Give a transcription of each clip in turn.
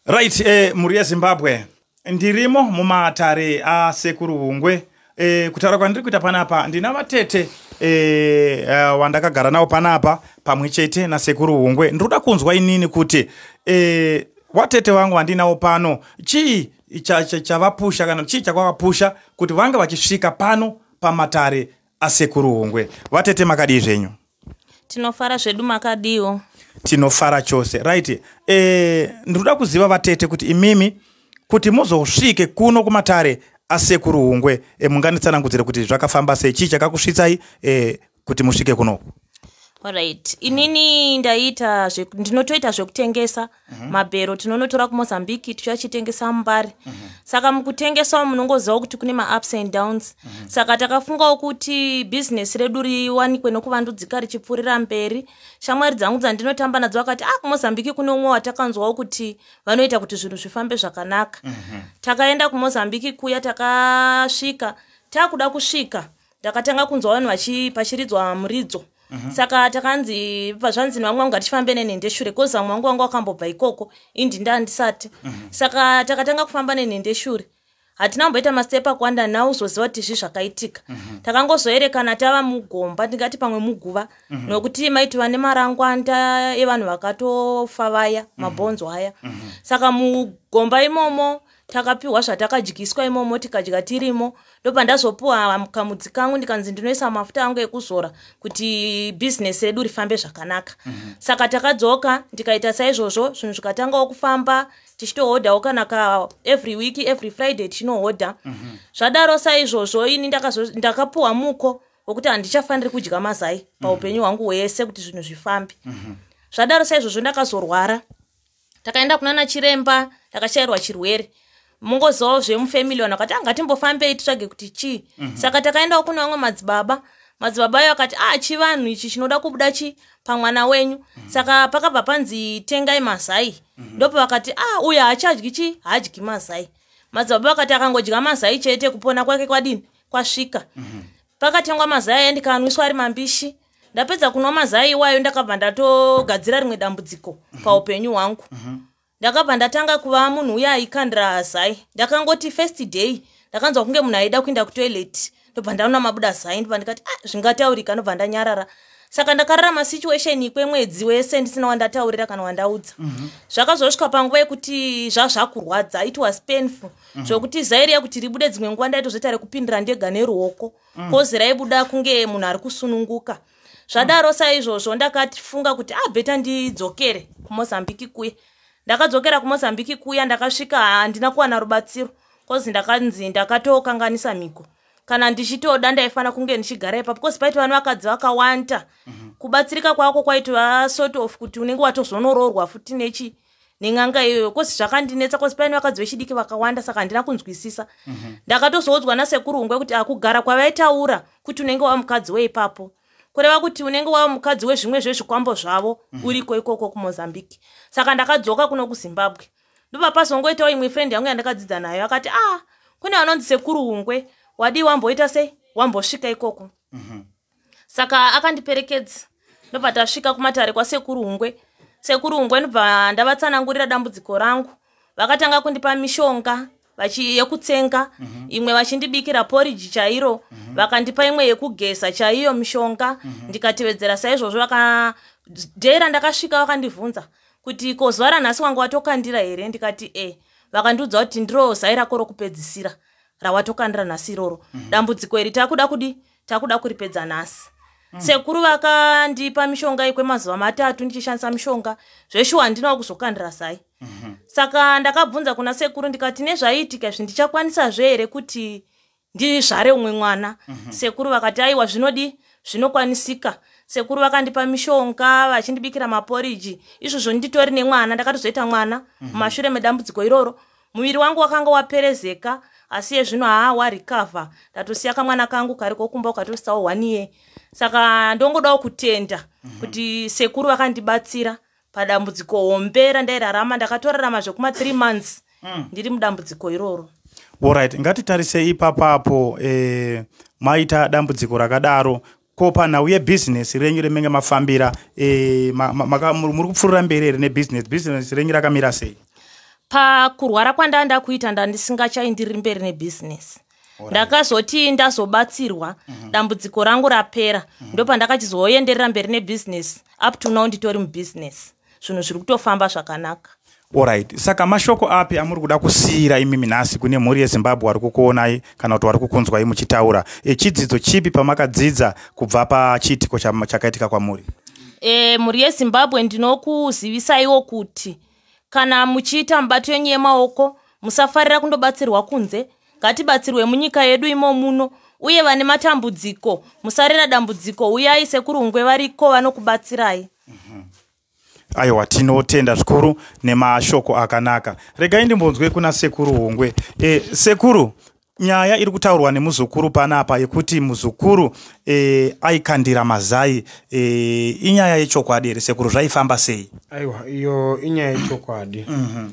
right eh, mhuri yezimbabwe ndirimo mumatare asekuru hungwe eh, kutaura kwandiri kuita panapa ndina vatete eh, uh, wandakagara nawo panapa pamwe chete nasekuru hungwe ndiri kuda kunzwa inini kuti eh, watete vangu vandinawo pano chii chavapusha kana chii chakwavapusha kuti vange vachisvika pano pamatare asekuru hungwe vatete makadii zvenyu tinofara zvedu makadiiwo tinofara chose right e, eh, ndinoda kuziva vatete kuti imimi kuti muzosvike kuno kumatare asekuru hungwe e, munganitsanangudzire kuti zvakafamba sei chii chakakusvitsai e, kuti musvike kunoku orit inini ndaita ndinotoita zvekutengesa Mhm. mabhero tinonotora kumozambique tichiachitengesa mumbare mhm. saka mukutengesawo munongozivawo kuti kune maups and downs mhm. saka takafungawo kuti bhizinesi redu riwanikwe nokuvandudzika richipfuurira mberi shamwari dzangu dzandinotamba nadzo vakati a ah, kumozambique kune umwe watakanzwawo kuti vanoita kuti zvinhu zvifambe zvakanaka takaenda kumozambique kuya takasvika takuda kusvika ndakatanga kunzwa vanhu vachiridzwa muridzo mhm. saka takanzi pazvanzi nevamwe vangu hatifambe nenhendeshure kozi vamwe vangu vangu vakambobva ikoko indi ndandisati mhm. saka takatanga kufamba nenhendeshure hatina kumboita mastepa akuwanda now uzoziva kuti zvi zvakaitika mhm. takangozoerekana tava mugomba ndingati pamwe muguva mhm. nokuti maiti vane marangwanda evanhu vakatofa vaya mhm. mabhonzo aya saka mugomba imomo takapiwa zvatakadyiswa imomo tikadya tirimo ndopandazopiwa kamudzi kangu ndikanzi ndinoisa mafuta angu ekuzora kuti bhizinesi redu rifambe zvakanaka mm -hmm. saka takadzoka ndikaita saizvozvo zvinhu zvikatangawo kufamba tichitohodhawo kana ka every week every friday tichinohodha mm -hmm. zvadaro saizvozvo ini ndakapiwa muko wekuti handichafaniri kudya mazai paupenyu hwangu hwese kuti zvinhu zvifambe mm -hmm. zvadaro saizvozvo ndakazorwara takaenda kunana chiremba takashairwa chirwere mungozivawo zvemufamily vanhu vakati anga ah, timbofambei titsvage kuti chii mm -hmm. saka takaendawo kune vamwe madzibaba madzibaba ayo akati a ah, chivanhu ichi chinoda kubuda chi pamwana wenyu mm -hmm. saka pakabva panzi tengai mazai mm -hmm. ndopo vakati a ah, uyo haachadyi chi haadyi mazai madzibaba vakati akangodya mazai chete kupona kwake kwadini kwasvika mm -hmm. Pakatengwa mazai aya ndikanwiswa ari mambishi. Ndapedza kunwa mazai iwayo ndakabva ndatogadzira rimwe dambudziko paupenyu hwangu. Mhm. Ndakabva ndatanga kuva munhu uya aikandira zai. Ndakangoti first day ndakanzwa kunge munhu aida kuenda kutoilet ndobva ndaona mabuda zai ndobva ndikati ah zvingataurika ndobva ndanyarara. Saka ndakararama situation kwemwedzi wese ndisina wandataurira kana wandaudza. Mhm. Zvakazosvika panguva yekuti zvazvakurwadza it was painful. mm -hmm. zvokuti zai riya kuti ribude dzimwe nguva ndaitozoita rekupindira ndega neruoko mm. kozi raibuda kunge munhu ari kusununguka zvadaro mm. saizvozvo ndakatifunga kuti abheta ah, ndidzokere kumozambiki kuya ndakadzokera kumozambiki kuya ndakasvika handina kuwana rubatsiro kozi ndakanzi ndakatokanganisa mhiko kana ndichitoda ndaifanira kunge ndichigara ipapo bcause paiti vana vakadzi vakawanda mm -hmm. kubatsirika kwako kwaitova sort of kuti unenge watozonoroorwa futi nechi nen'anga iyoyo kosi zvakandinetsa kosi paine vakadzi vechidiki vakawanda saka handina kunzwisisa mhm. ndakatozoudzwa nasekuru ungwe kuti akugara ah, kwavaitaura kuti unenge wava mukadzi weipapo kureva kuti unenge wava mukadzi wezvimwe zvezvikwambo zvavo mhm. uriko ikoko kumozambique saka ndakadzoka kuno kuzimbabwe ndobva pazongoitawo imwe friend yangu yandakadzidza nayo akati a ah, kune vanonzi sekuru ungwe wadii wamboita sei wambosvika ikoko mhm. saka akandiperekedza ndobva tasvika kumatare kwasekuru hungwe sekuru hungwe ndobva ndavatsanangurira dambudziko rangu vakatanga kundipa mishonga yekutsenga mm -hmm. imwe vachindibikira poriji chairo mm -hmm. vakandipa imwe yekugeza chaiyo mishonga mm -hmm. ndikatevedzera saizvozvo vaka dhei randakasvika vakandibvunza kuti ko zuva ranhasi wanga watokandira here ndikati e vakandiudza kuti ndiro zai rako rokupedzisira rawatokandira nhasi iroro mm -hmm. dambudziko iri takuda kudi takuda kuripedza nhasi mm. sekuru vakandipa mishonga yekwemazuva matatu ndichishandisa mishonga zveshuwa handinawo kuzokandira sai mm -hmm. saka ndakabvunza kuna sekuru ndikati nezvaiitika izvi ndichakwanisa zve here kuti ndizvare umwe mwana mm -hmm. sekuru vakati aiwa zvinodii zvinokwanisika sekuru vakandipa mishonga vachindibikira maporiji izvozvo nditori nemwana ndakatozoita mwana mhm. mumashure mm -hmm. medambudziko iroro Muviri wangu wakanga waperezeka asi yezvino haa warecover ndatosiya kamwana kangu kari kokumba ukatositawo one year saka ndongodawo kutenda mhm. kuti sekuru vakandibatsira padambudziko hombe randairarama ndakatorarama zvekuma three months mm. ndiri mudambudziko iroro orit ngatitarisei ipapapo eh, maita dambudziko rakadaro ko panhau yebhizinesi renyu remenge mafambira e, ma, ma, ma, muri kupfuurira mberi here nebhizinesi bhizinesi renyu rakamira sei pakurwara kwandaa ndakuita ndandisingachaindiri mberi nebhizinesi ndakazoti ndazobatsirwa mhm. dambudziko rangu rapera mhm. ndopandakachizoenderera mberi nebhizinesi up to now nditori mubhizinesi zvinhu zviri kutofamba zvakanaka orit saka mashoko api amuri kuda kusiyira imimi nhasi kune mhuri yezimbabwe wari kukuonai kana kuti wari kukunzwai muchitaura echidzidzo chipi pamakadzidza kubva pachiitiko chakaitika kwamuri e, mhuri yezimbabwe ndinokuzivisaiwo kuti kana muchiita mubato yenyu yemaoko musafarira kundobatsirwa kunze ngatibatsirwe munyika yedu imo muno uye vane matambudziko musarera dambudziko uyai sekurungwe variko vanokubatsirai mhm. aiwa tinotenda zvikuru nemashoko akanaka regai ndimbonzwe kuna sekuru hungwe e, sekuru nyaya iri kutaurwa nemuzukuru panapa yekuti muzukuru e, aikandira mazai e, inyaya yechokwadi here sekuru zvaifamba sei aiwa iyo inyaya yechokwadi mm -hmm.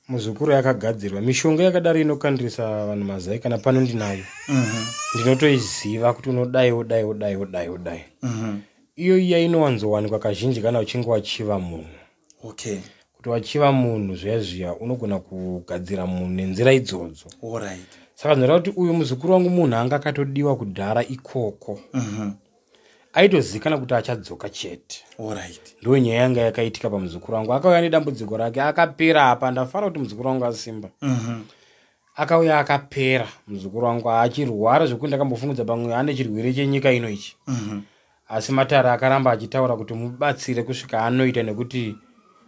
muzukuru yakagadzirwa mishonga yakadaro inokandirisa vanhu mazai kana pano ndinayo mhm. ndinotoiziva kuti unodai wodai wodai wodai wodai mhm. iyo iya inowanzowanikwa kazhinji kana uchinge wachiva munhu okay kuti wachiva munhu zviya zviya unogona kugadzira munhu nenzira idzodzo right. saka ndinoda kuti uyu muzukuru wangu munhu anga akatodiwa kudhara ikoko mm -hmm. aitozivikanwa kuti achadzoka chete right. ndo nyaya yanga yakaitika pamuzukuru wangu akauya nedambudziko rake akapera apa ndafara kuti muzukuru wangu asimba uh mhm. -huh. akauya akapera muzukuru wangu achirwara zvekuti ndakambofungudza pamwe ane chirwere chenyika ino ichi uh mhm. -huh. asi matare akaramba achitaura kuti mubatsire kusvika anoita nekuti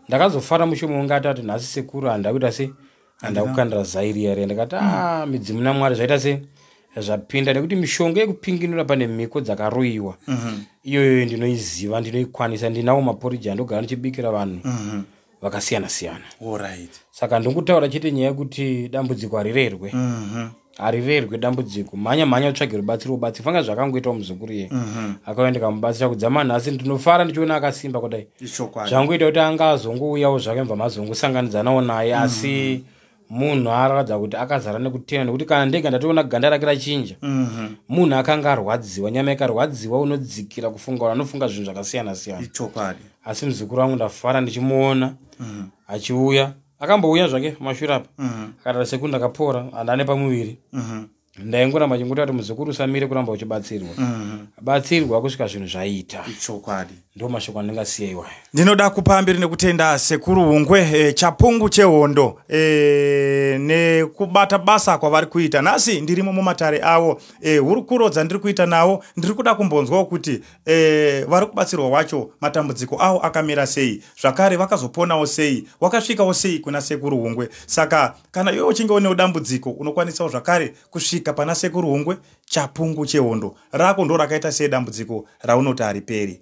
ndakazofara mushomo wangu atati nhasi sekuru handida kuita se handa kukandira zai riya riya ndikati mm. a ah, midzimu namwari zvaita se zvapinda nekuti mishonga yekupinginura pane mhiko dzakaroyiwa mhm. iyoyo ndinoiziva ndinoikwanisa ndinawo maporiji andogara ndichibikira vanhu mhm. vakasiyana siyana saka ndongotaura chete nyaya yekuti dambudziko harirerwe mhm. harirerwe dambudziko mhanya mhanya utsvage rubatsiro ubatsiro fanga zvakangoitawo muzukuru iye mhm. akauya ndikamubatsira kudzama nhasi ndinofara ndichiona akasimba kudai zvangoita kuti anga azongouyawo zvake mva mazongosanganidzanawo naye mhm. asi munhu aratidza kuti akazara nekutena nekuti kana ndega ndatoona ganda rake rachinja mhm. munhu akanga arwadziwa nyama ikarwadziwa unodzikira kufunga ura anofunga zvinhu zvakasiyana siyana asi muzukuru wangu ndafara ndichimuona achiuya mm -hmm. akambouya zvake pamashure apa mm-hmm. akatara seku ndakapora andane pamuviri mm-hmm. ndaingoramba chingoti ati muzukuru usamire kuramba uchibatsirwa mm-hmm. batsirwa kusvika zvinhu zvaita ichokwadi ndo mashoko andingasiya iwayo ndinoda kupa mbiri nekutenda sekuru hungwe e, chapungu chehondo e, nekubata basa kwavari kuita nhasi ndirimo mumatare avo e, hurukuro dzandiri kuita nawo ndiri kuda kumbonzwawo kuti e, vari kubatsirwa wacho matambudziko awo akamira sei zvakare vakazoponawo sei wakasvikawo sei kuna sekuru hungwe saka kana iwe uchinge unewo dambudziko unokwanisawo zvakare kusvika pana sekuru hungwe chapungu chehondo rako ndo rakaita sei dambudziko raunoti hariperi